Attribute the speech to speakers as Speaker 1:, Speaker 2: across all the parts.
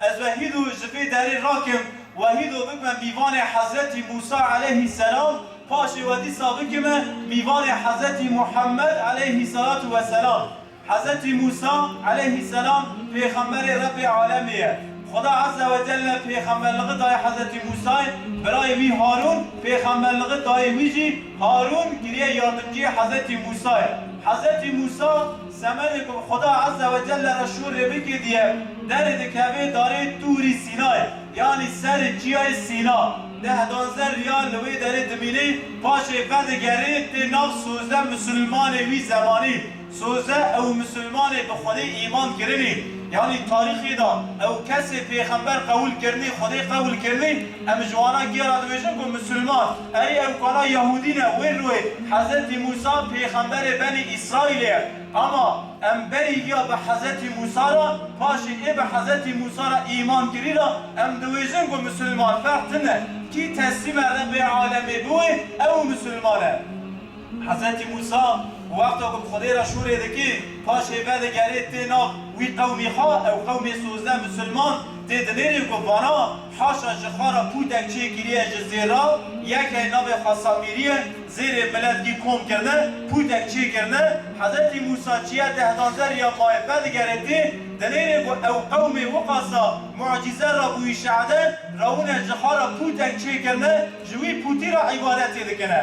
Speaker 1: Ez wehîdu ji vê derê rakim, wehîdu bikme mîvanê Hezretî Mûsa eleyhî selam, paşê we dîsa bikime mîvanê Hezretî Muhemmed eleyhî selatu we selam. Hezretî Mûsa eleyhî selam pêxemberê Rebbê alemê ye. Xuda Ezze we Celle pêxemberligi daye Hezretî Mûsayê, birayê wî Harûn pêxemberligi dayê wî jî, Harûn giriye yardimciyê Hezretî Mûsayê. Hezretî Mûsa. Semerê ku bi Xweda Eze we Celle re şûr rê bikê diye derê dikevê darê Tûrî Sînay yanî serê Çiyayê Sîna. Deh danze riyal li wê derê dimînê, paşê vedigerê tê nav sozde misilmanê wî zemanî. Sozde ew misilmanê bi Xwedê îman kirinî. Yanî tarîxê de ew kesê pêxember qewil kirinî, Xwedê qewil kirinî. Em ji wana kê re dibêjin ku Misilman, erê ew kana Yehûdî ne, wê li wê Hezretî Mûsa pêxemberê Benî Îsraîlê ye. Ama em berî giya bi Hezretî Mûsa re, paşê ê bi Hezretî Mûsa re îman kirî re, em dibêjin ku Misilman ferq tine. Kî teslîme Rebê Alemê biwe, ew Misilman e. Hezretî Mûsa wexta ku bi Xwedê re şûrê dike, paşê vedigerê tê nav wî qewmî xwe, ew qewmê sozdeh Misilman tê dinêrî ku vana, Haşa ji xwe re pûtek çê kiriye ji zêr re, yekê navê xwe Samîrî ye, zêrê milet kî kom kirine, pûtek çê kirine, Hezretî Mûsa çiya deh daze riya mayê vedigere tê, dinêrê ku ew qewmê wiqasa mucize re bûyî şehede, rewine ji xwe re pûtek çê kirine, ji wî pûtî re îbadetê dikine.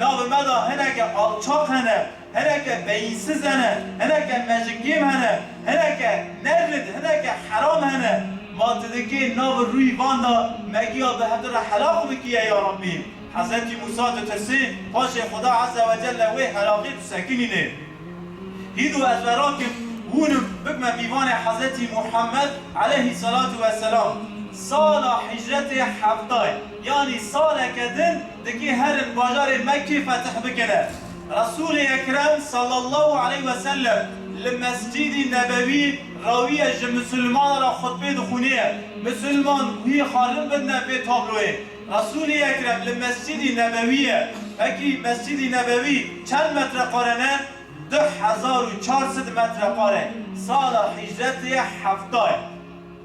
Speaker 1: Navê me de hineke alçaq hene, hineke beyînsiz hene, hineke mejikêm hene, hineke nerrîd, hineke heram hene. Ma tu dikê navê rûyî van de me giya bi hev di re helaq bikiye ya Rabbî. Hezretî Mûsa ditirsê, paşê Xuda Ezze ve Celle wê helaqê tu sekinînê. Hîd û ez verakim, hûnim, bikme pîvanê Hezretî Muhammed Eleyhî Selatu Veselam. Sala hicretê heftay. Yanî saleke din dikê herin bajarê Mekkê fetih bikine. Resûlê Ekrem sallallahu aleyh ve sellem li Mescîdî Nebewî rawiye ji misilmanan re xutbê dixwîniye. Misilman wî xalim bidine vê tabloyê. Resûlê Ekrem li Mescîdî Nebewî ye. Vekî Mescîdî Nebewî çend metreqare ne? Du hezar û çar sed metreqare. Sala hîcretê ye hefta ye.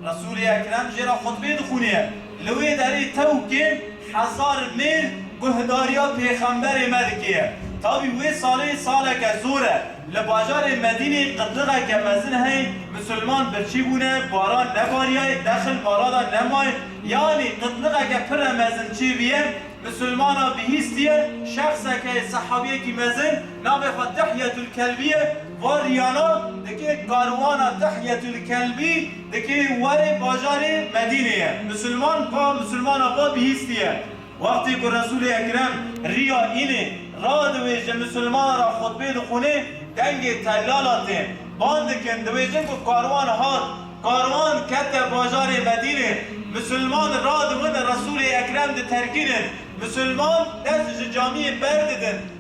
Speaker 1: Resûlê Ekrem jê re xutbê dixwîniye. Li wê derê tewkên hezar mêr guhdariya pêxemberê me dikêye. Tavî wê salê saleke zor e. Li bajarê Medînê qitliqeke mezin heye, misilman birçî bûne, baran nebariyaye, dexil mala de nemaye. Yanî qitliqeke pire mezin çêbiye, misilmana bihîstiye, şexseke ye, sehabiyekî mezin, navê xwe Dihyetulkelbiye. Van riyana dikê karwana Dihyetul Kelbî dikê warê bajarê Medînê ye. Musulman ka musulmana xwe bihîstiye. Wextê ku Resûlê Ekrem riya înê radiwêje musulmana ra xutbê dixwînê dengê tellala tê. Bang dikin diwêjin ku karwan hat. Karwan kete bajarê Medînê. Musulman radiwin Resûlê Ekrem diterkînin. Musulman dest ji camiyê berdidin.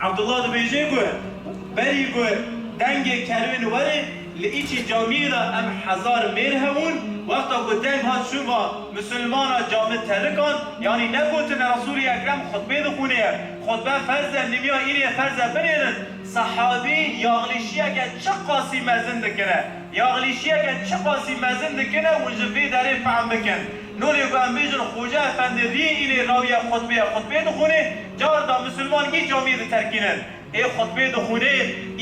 Speaker 1: Abdullah dibêje ku berî ku dengê kerwê li werê li îçî camiyê de em hezar mêr hebûn, wexta ku deng hat şûva misilmana cami terikan, yanî negotine Resûlî Ekrem xutbê dixwîne ye, xutbe ferz e nimiya îrê ferz e binêrin, sehabî yaxlîşiyeke çi qasî mezin dikine, yaxlîşiyeke çi qasî mezin dikine hûn ji vê derê fehm bikin. Nolê ku em bêjin Xoca Efendi riyê înê rawiya xutbeya xutbeyê dixwînê, car da misilman kî camiyê diterkînin. Ê xutbeyê dixwînê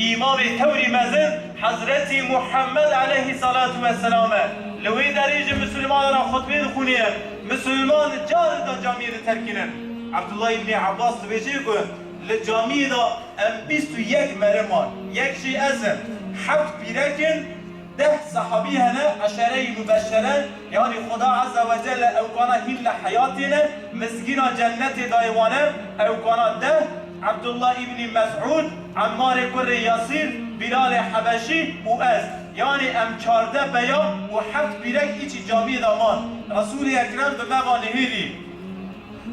Speaker 1: îmamê tewrî mezin Hezretî Muhemmed eleyhî salatu ve selam e. Li wê derê ji misilmanan re xutbeyê dixwînê em misilman car da camiyê diterkînin. Abdullah Îbnî Abbas dibêje ku li camiyê da em bîst û yek mere man. Yek jî ez im. Heft pîrek in. Deh sehabî hene, eşere-i mubeşere, yanî Xuda Eze we Celle ew kana hîn li heyatê ne, mizgîna cennetê dayê wan e, ew kana deh, Ebdullah îbnî Mes'ûd, Emmarê kurrê Yasîr, Bîlalê Hebeşî û ez, yanî em çardeh peya û heft pîrek hîçî camiyê de man. Resûlê Ekrem bi me va nihêlî.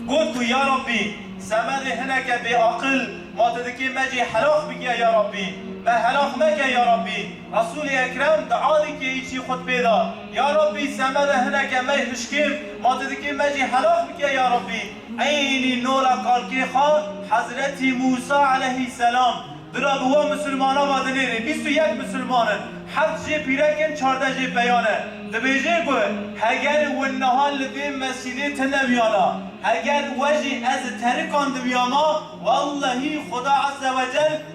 Speaker 1: Got ku ya Rabbî! Semedê hineke bêaqil ma ti dikê me jî helax bikiya ya Rabbî! Me helax meke ya Rabbî! Resûlê Ekrem di alî keyî jî xutbê da, Ya Rabbî seme re hineke mey hişkêv, ma tu dikê me jî helak bike ya Rabbî. Eynî nora kalkê xwe Hezretî Mûsa eleyhî selam di ra bi we misilmana ve dinêrê. Bîst û yek misilman in, heft jê pîrek in, çardeh jê peyan e. Dibêje ku heger win niha li vê mescîdê tu neviyana, heger we jî ez di terikan diviyama, wellehî Xuda Ezzewecel,